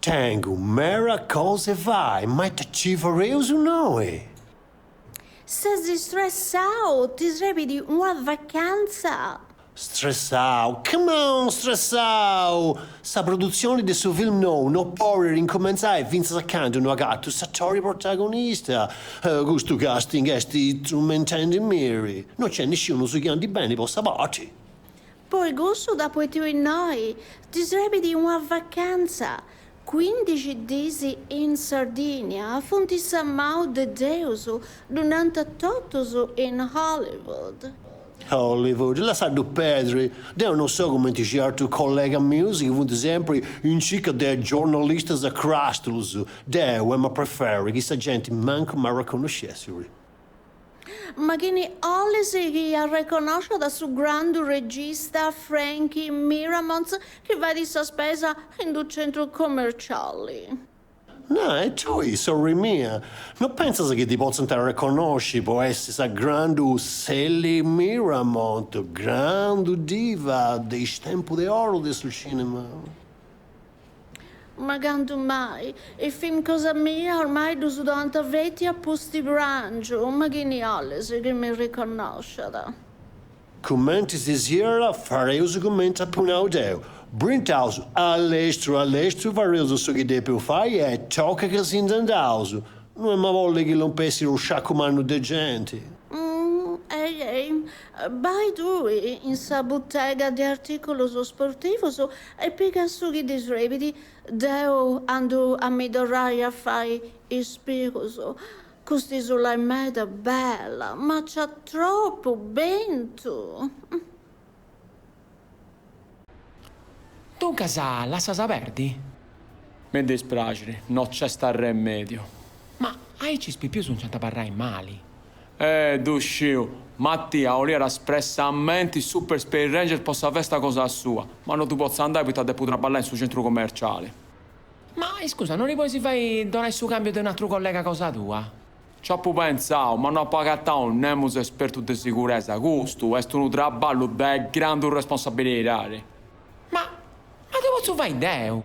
Tengu mera cosa 'e fai, ma ita ci fareus innoi? Ses istressau? Ti srebit una vacantza? Stressau? Come on stressau! Sa produtzioni de su film nou no podet incumentzai fintzas a candu no agatu s'atori protagonista. Custu casting est trumentendimiri, no nc'est nisciunus chi andit beni po sa parti. Po cussu t'apu 'etiu innoi ti srebit una vacantza, cuindixi dis in Sardinia funt sa mau de Deus, ddu nant totus in Hollywood. Hollywood, lassaddu pedri, deu no so cumenti certu collega mius chi funt sempri in circa de giornalistas cràstulus, deu em'a preferri chi sa genti mancu m'arraconnoscessiri. Ma chini 'olis chi arreconnosciat su grandu regista Frankie Miramont chi fait sa spesa in d'u centru commerciali? Na, e tui, sorri mia, no pentzas chi ti potzint arreconnosci po essi sa grandu Sally Miramont, grandu diva de is tempus de oru de su cinema? Ma candu mai? Is film cosa mia ormai ddus doant feti a pusti prangiu, ma chini 'olis chi mi riconnosciat? Cumenti si siat fareus cumenti apu nau deu, brintaus allestru allestru fareus su chi depeus fai e tocat ca si nd'andaus, no em'a bolli chi lompessit unu sciacu mannu de genti. Umm, ei ei, bai tui in sa butega de artìculus sportivus E piga su chi ti srebit, deu andu a mi torrai a fai is pigus, cust'isula est meda bella, ma nc'at tropu bentu. Duncas lassas a perdi? Mi dispraxit, no nc'est arremèdiu. Ma aici is pipius nc'ant a abarrai mali. E ddu sciu, Mattia 'oliat espressamenti Super Space Ranger po sa festa cosa sua, ma no ddu potzu andai poita depu traballai in su centru commerciali. Ma iscusa, no ti pois fai donai su cambiu de un'atru collega cosa tua? Nci apu pentzau, ma no apu agatau nemus espertu de siguresa, custu est unu traballu de grandu responsabilidadi. Ma, ma ddu potzu fai deu?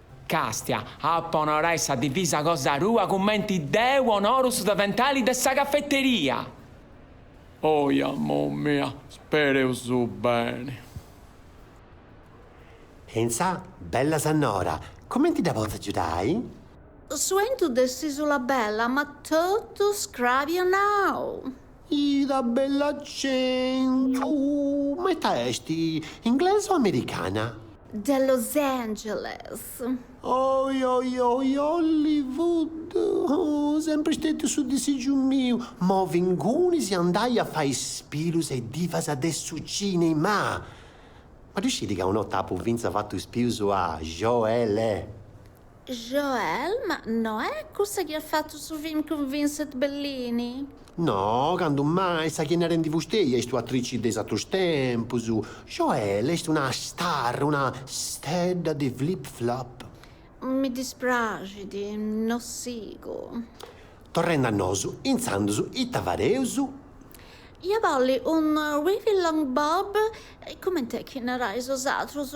Càstia, Apu a onorai sa divisa cosa tua cumenti deu onoru su deventali de sa cafeteria! Oi, amor mia, spereu su beni! Enza, Bella sannora, cumenti dda potzu agiudai? Su 'entu de s'Isula Bella m'at totu scrabianau! Ita bell'acentu! Ma ita est, inglesa o americana? De Los Angeles. Oi oi oi, Hollywood! Oh, sempri stetiu su disigiu miu! Movi ingunis andai a fai is pilus a is divas de su cinema! Ma ddu scidi ca un'ota apu finza fatu is pius a Joelle? Joelle, ma no est cussa chi at fatu su film cun Vincent Bellini? No, candu mai, sa chi est narendi fusteja est u'atrici de is atrus tempus. Joelle est una star, una stedda de flip flop. Mi dispraxit, no sigu. Torrendi a nosu, intzandus ita fadeus? Ia bolli unu wavy long bob, cumenti est chi narais bosatrus,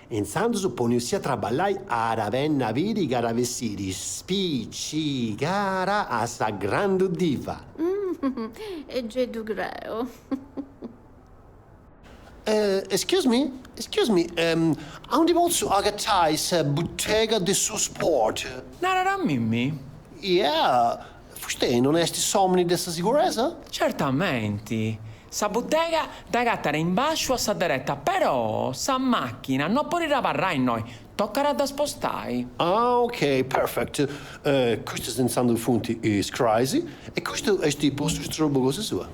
Intzandus poniussi a traballai at a benni a biri ca at a bessiri spiccigara a sa grandu diva. E gei ddu creu. Excuse me, excuse me, aundi potzu agatai sa buttega de su sport? Narat a mimmi. Yeah, Fustei non est s'òmini de sa siguresa? Certamenti. Sa butega dd'agatat in bàsciu a sa dereta, però sa màchina no podit abarrai innoi, tocat a dda spostai. Ah, ok, perfect. Custus intzandus funt is crais e custu est po su strobu cosa sua.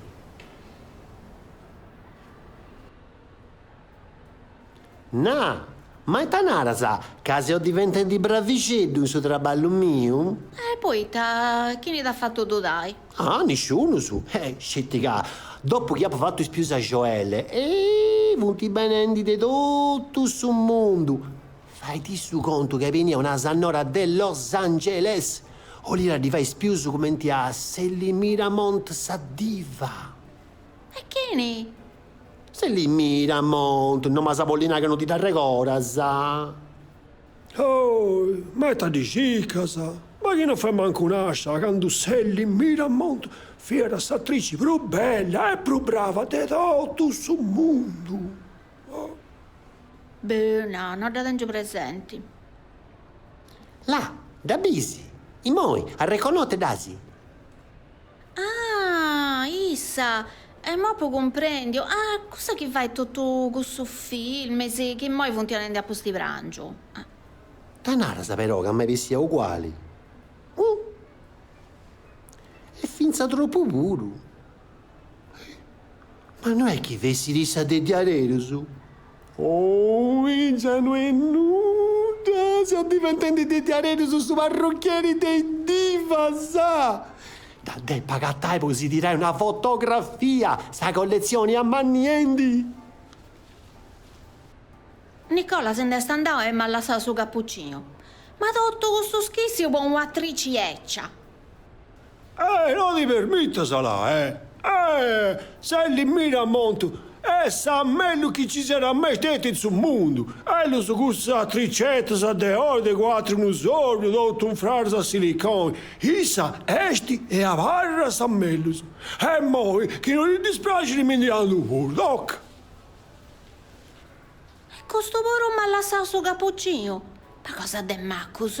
Na, ma ita naras ca seu diventendi bravixeddu in su traballu miu? E poita, chini t'at fatu dudai? Ah, nisciunus. Sceti ca, dopu chi apu fatu is pius a Joelle, ehi, funt benendi de totu su mundu. Faiti su contu ca est benia una sannora de Los Angeles, 'olira ddi fai is pius cumenti a Selly Miramont sa diva. E chini? Selly Miramont, no m'as a bolli nai ca no ti dd'arregoras? Oi, ma ita ddi circas? Ma chi no fiat mancu nascia, candu Selly Miramont, fiat s'atrici prus bella e prus brava de totu su mundu. Oh. Boh, no, no dda tengiu presenti. Là, dda bisi? Imoi, arreconnota dd'asi? Ah! Issa! Imoi apu cumprendiu! Ah! Cussa chi fait totu cussus filmis chi immoi funt donendi a pustiprangiu! Ah! Ita naras però ca m'est bessia uguali? Uh! E fintzas tropu puru! Eh! Ma no est chi fessit issa de diareros? Oh, issa no est nudda, seu diventendi de diarerus su parrucchieri de is divas. Dda depu agatai po si tirai una fotografia, sa colletzioni amanniendi. Nicola si nd'est andau e m'at lassau su capucinu. Ma totu custu schissiu po un'atrici bècia! Eh! No ti permittas là, eh! Sally Miramont est sa mellus chi ci siat mai stettia in su mundu! Ellus custas attricettas de oi de quattru unu sordu tottu unfraras a siliconi! Issa esti e abarra sa mellus e moi chi no ti dispraxiri mi ndi andu puru! Tocca! E custu puru m'ha lassau su cappuccinu! Ma cosa de maccus!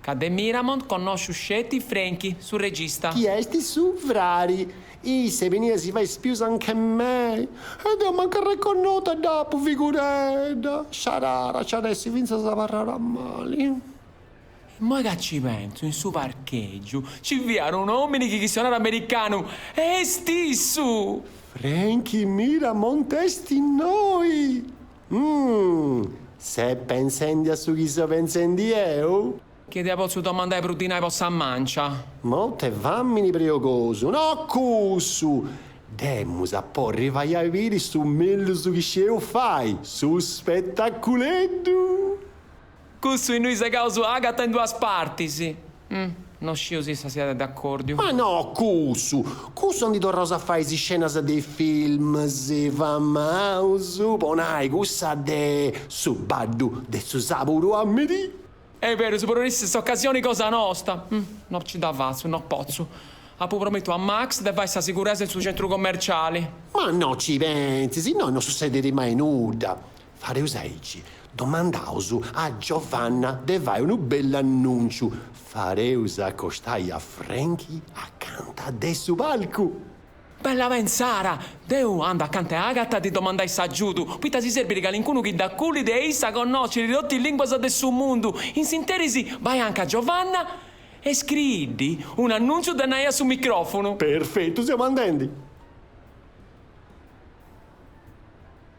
Ca de Miramont connosciu sceti Franky, su regista. Chi est su frari. Issa benit a si fai is pius anch'e mei. E deu mancu arreconnota dd'apu, figuredda. Sciarara, nci at essi fintzas abarrara mali. Immoi ca nci pentzu, in su parchègiu nci fiat un'òmini chi chistionat americanu. Est issu! Franky Miramont est innoi! Umm! Ses pensendi a su chi seu pensendi deu? Chi ddi potzu domandai prus dinai po sa mancia? Mort'e famini preogosu, no cussu! Dd'emus a porri fai a biri su mellus chi scieus fai, su spettaculeddu! Cussu innui segaus a Agata in duas partis. No sciu si issa siat d'accordiu. Ma no cussu! Cussu aundi torraus a fai is iscenas de is films famaus, po nai cussa de Su baddu de su saburu a merì. Est berus, porit essi s'ocasioni cosa nosta. No nci dda fatzu, no potzu. Apu promìtiu a Max de fai sa siguresa in su centru commerciali. Ma no nci pentzis, innoi no sutzedit mai nudda. Fareus aici, domandaus a Giovanna de fai unu bellu annunciu, fareus acostai a Franky acanta de su palcu. Bella pensara! Deu andu acanta 'e Agata a ddi domandai s'agiudu, poita si serbit calincunu chi dd'acullit e issa connosciri totu is linguas de su mundu, in s'interis bai anca Giovanna e scriiddi un annunciu de nai a su microfunu. Perfetu seu andendi.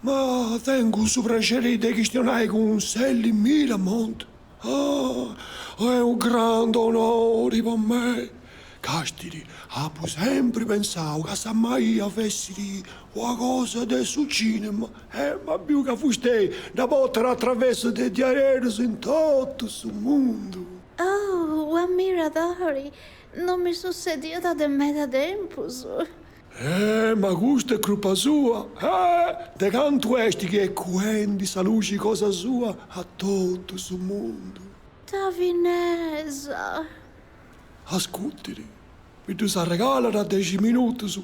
Ma tengu su praxeri de chistionai cun Sally Miramont? Ah, est unu grandu onori po mei. Castiri, apu sempri pensau ca sa maia fessiri una cosa de su cinema e m'abiu ca fustei dda portat atraversu de diaderus in totu su mundu. Oh, u ammiradori! Non mi sussediat de meda tempus. Eh, ma custu est crupa sua, eh, de cantu est chi est cuendi sa luxi cosa sua a totu su mundu. Ta finesa. Ascurtiri, mi ddus arregalat a dexi minutus,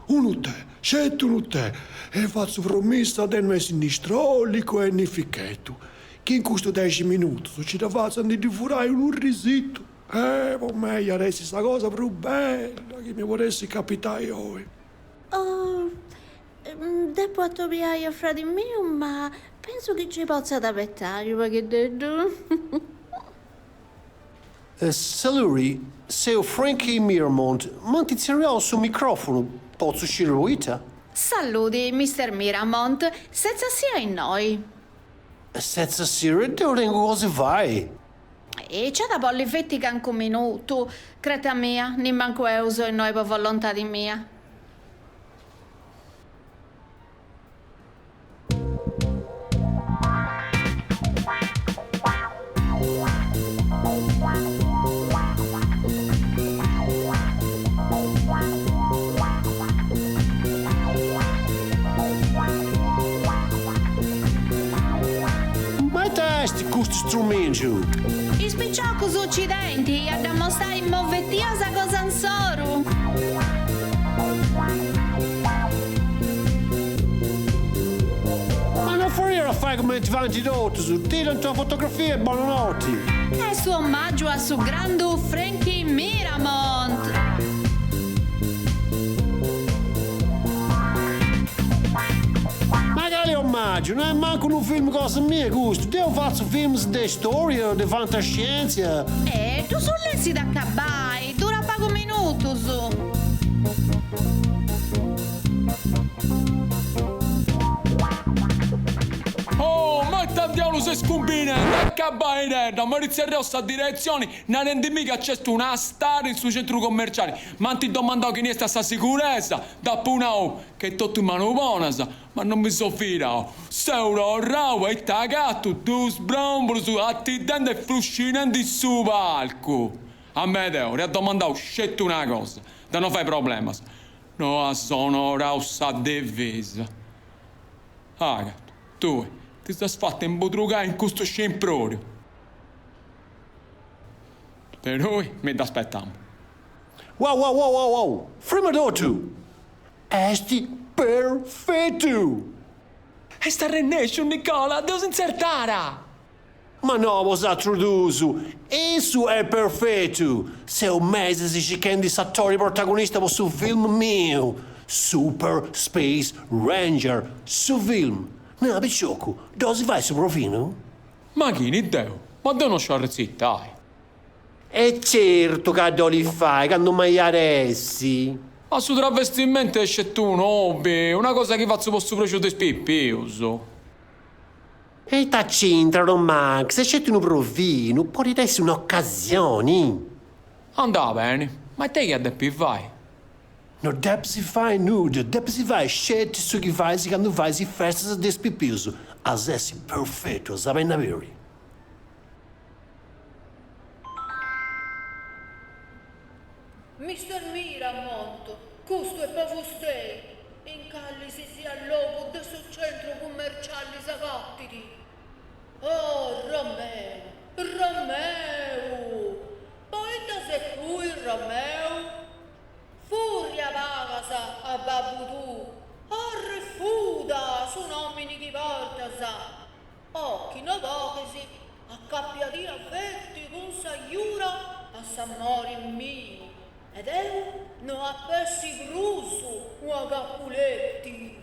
unu tè, sceti unu tè, e fatzu promissa de no essi ni strolicu e ni fichetu, chi in custus dexi minutus nci dda fatzu a ndi ddi furai unu risitu. Eh, po mei iat essi sa cosa prus bella chi mi podessit capitai oi. Oh, depu atobiai a fradi miu, ma pensu chi ci potzat abetai unu pagheddeddu. Saluri, seu Frankie Miramont, m'ant tzerriau su microfunu, potzu sciri poita? Salludi, Mister Miramont, setzat-sì a innoi. Setzat-sì, deu tengu cosa 'e fai. Eh nc'at a bolli feti cancu minutu, cretat a mei, nimmancu deu seu innoi po volontadi mia. Custu strumìgiu. Is piciocus ci tenint a dd'ammostai s'afetu a sa cosa insoru. Ma no podiant fai cumenti faint totus, tirant una fotografia e bonanoti. Est un'ommàgiu a su grandu Frankie Miramont. Ma cale ommàgiu? No est mancu unu film cosa mia custu, deu fatzu films de istòria, de fantascièntzia? Ddus lessit acabbai, durat pagus minutus. Oh, ma ita tiaulu seis cumbinendi? Acabbaidedda, m'arritzerriu sa diretzioni. narendimì ca c'est una star in su centru commerciali, m'ant domandau chini est a sa siguresa, dd'apu nau che totu in manus bonas, ma non mi seu fidau. Seu torrau e ita agatu duus bròmbulos atitende e fuscinende in su palcu. Amedeo, t'ia domandau sceti una cosa, de no fai problemas, no as onorau sa divisa. Agata, tui ti ses fata imbudrugai in custu scimpròriu. De tui no mi dd'aspetamu. Wow wow wow wow! Frima totu est perfetu! Est arrennesciu Nicola a ddos intzertai! Ma no bosatrus duus, issu est perfetu! Seu mesis cichendi s'atori protagonista po su film miu, Super Space Ranger, su film! Nara piciocu, ddu bolis fai su provinu? Ma chini, deu? Ma deu no sciu arrecitai! E certu ca ddu bolit fai, candu mai at a essi! Ma su travestimentu est sceti unu hobby, una cosa chi fazzu po su prexu de is pipius! E ita c'intrat, Max, est sceti unu provinu, podit essi un'occasioni! Andat beni, ma ita ia depi fai? No depis fai nudda, depis fai sceti su chi fais candu fais is festas de is pipius, as a essi perfetu, as a benni a biri. Mister Miramont, custu est po fustei, in calisisiat logu de su centru cummercialli s'agattit. Oh, Romeu, Romeu! Poita ses tui, Romeu? Furria palas a babbu tuu. Arrefuda su nomini chi portas. O chi no podis, acapiadì sceti cun sa jura a s'ammori miu e deu no ap'essi prus una Capuleti.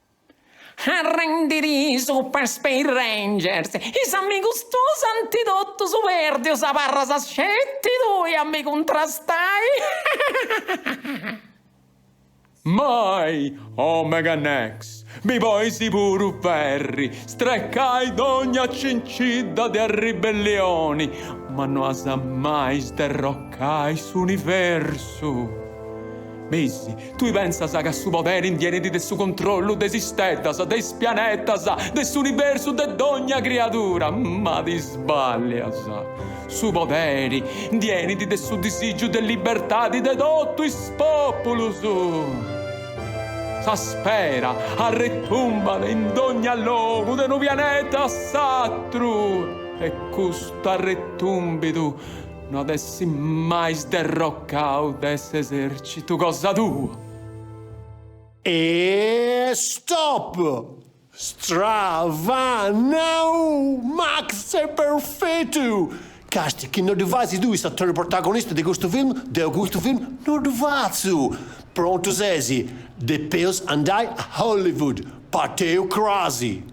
Arrendidì, Super Space Ranger. Is amigus tuus anti totus pèrdiu, abarras sceti tui a mi cuntrastai. Mai! Omega Nex, mi podis puru ferri, strecai dogna cincidda de arribellioni, ma no as mai sderrocai s'universu. Bessi, tui pensas ca su poderi indienit de su controllu de is isteddas, de is pianetas, de s'universu, de dogna criadura? Ma ti sballias! Su poderi indienit de su disigiu de libertadi de totu is populus! Sa spera arretumbat in dogna logu de unu pianeta a s'atru e custu arretumbidu No ad'essi mai sderrocau de s'esercitu cosa tua. E stop! Stravanau! Max est perfetu! Casti chi no ddu fais tui s'attori protagonista de custu film, deu custu film no ddu fatzu! Prontu sesi, depeus andai a Hollywood, parteus crasi!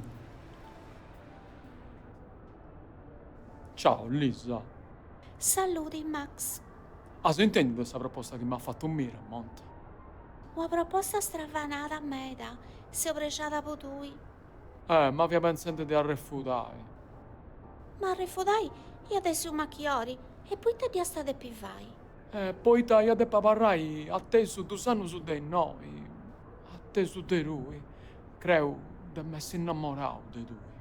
Ciao Lisa. Saludi Max. As intendiu de sa proposta chi m'at fatu Miramont? Una proposta stravanada meda, seu prexada po tui. Eh, ma fia pentzendi de arrefudai. Ma arrefudai iat essi unu machiori, e poita dd'iast a depi fai? Eh, poita ia depi abarrai atesu dus annus de innoi, atesu de tui, creu de m'essi innamorau de tui.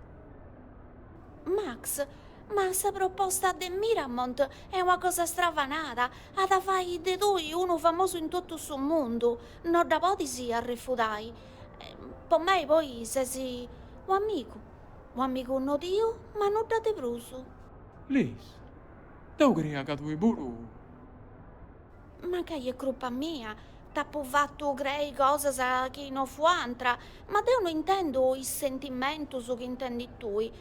Max, Ma sa proposta de Miramont est una cosa stravanada, at a fai de tui unu famosu in totu su mundu, no dda podis arrefudai. Po mei poi ses un'amigu, un'amigu nodiu, ma nudda de prus. Lis, Deu creia ca tui puru. Mancai est crupa mia, t'apu fatu crei cosas chi no fuant, ma deu no intendu is sentimentus chi intendis tui.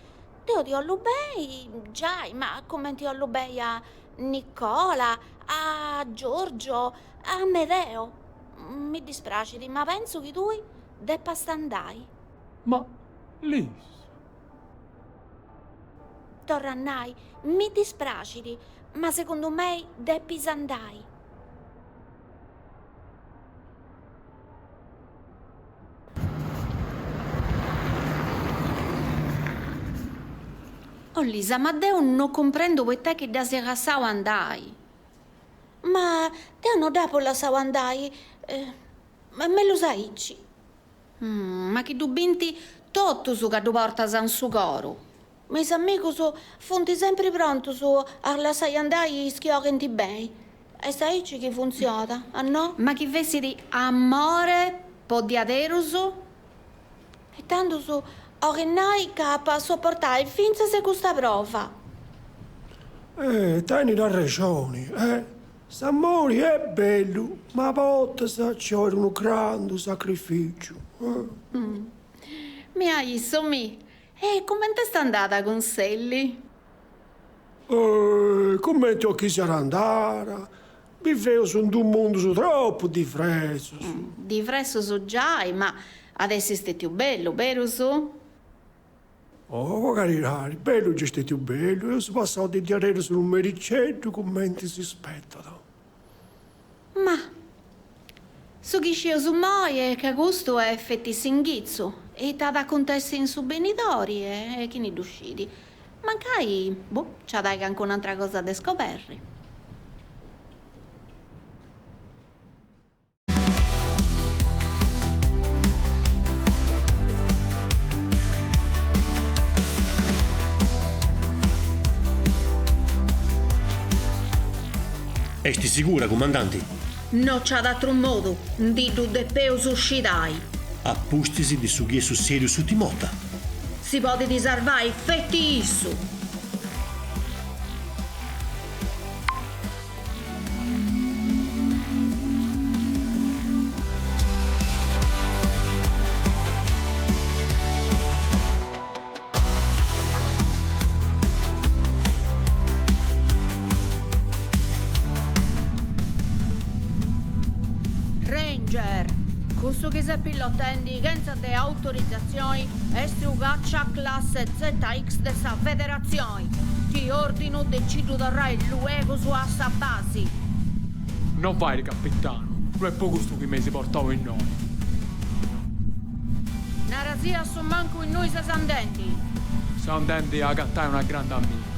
Deu ti 'ollu beni, giai, ma cumenti 'ollu beni a Nicola, a Giorgio, a Amedeo. Mi dispraxit, ma pentzu chi tui depas andai. Ma Lis. Torru a nai, mi dispraxit, ma segundu mei depis andai. Oh Lisa, ma deu no cumprendu poita chi dd'as lassau andai. Ma deu no dd'apu lassau andai, mellus aici. Ma chi ddu binti totus ca ddu portas in su coru. Ma is amigus funt sempri prontus a lassai andai is chi 'olint beni. Est aici chi funtziona, a no? Ma chi fessit amori po diaderus? E tandus 'olit nai ca apu a soportai fintzas custa prova. Eh, tenit arrexoni, eh! S'amori est bellu, ma a bortas ciòit unu grandu sacrificiu. Mia a issu mi. E cumenti est andada cun Selli? Ohh, cumenti 'olis chi siat andada, biveus in dus mundus tropu divresus. Divresus giai, ma at essi stetiu bellu, berus? Oh, caridadi, bellu nci est stetiu bellu, eus passau de diaderus unu mericeddu cumenti si spetat. Ma. Su chi scius immoi est ca custu est feti s'inghitzu e ita at a acuntessi in su benidori e chini ddu scidi. Mancai, boh, nci at a ai cancuna antra cosa de scoberri. Est sigura, cumandanti? No nc'at atru modu, ndi ddu depeus scidai. A pustis de su chi est sussèdiu s'ùtim'ota. Si podit sarvai feti issu! Ranger, cussu chi ses pilotendi chentza de autorizatzioni est u càcia classe ZX de sa Federatzioni. Ti ordinu de nci ddu torrai luegus a sa basi. No fairi capitanu, no est po custu chi m'eis portau innoi. Nara·sì a su mancu innui ses andendi. Seu andendi a agatai una grandi amiga.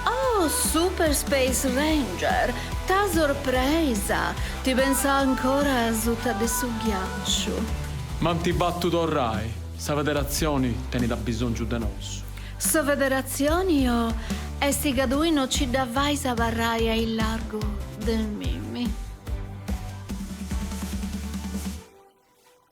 Oh Super Space Ranger, ta sorpresa! Ti pensà ancora a suta de su ghiaciu. Ma m'ant fatu torrai, sa Federatzioni tenit abisongiu de nosu. Sa Federatzioni o esti ca tui no nci dda fais a abarrai aillargu de Mimmi.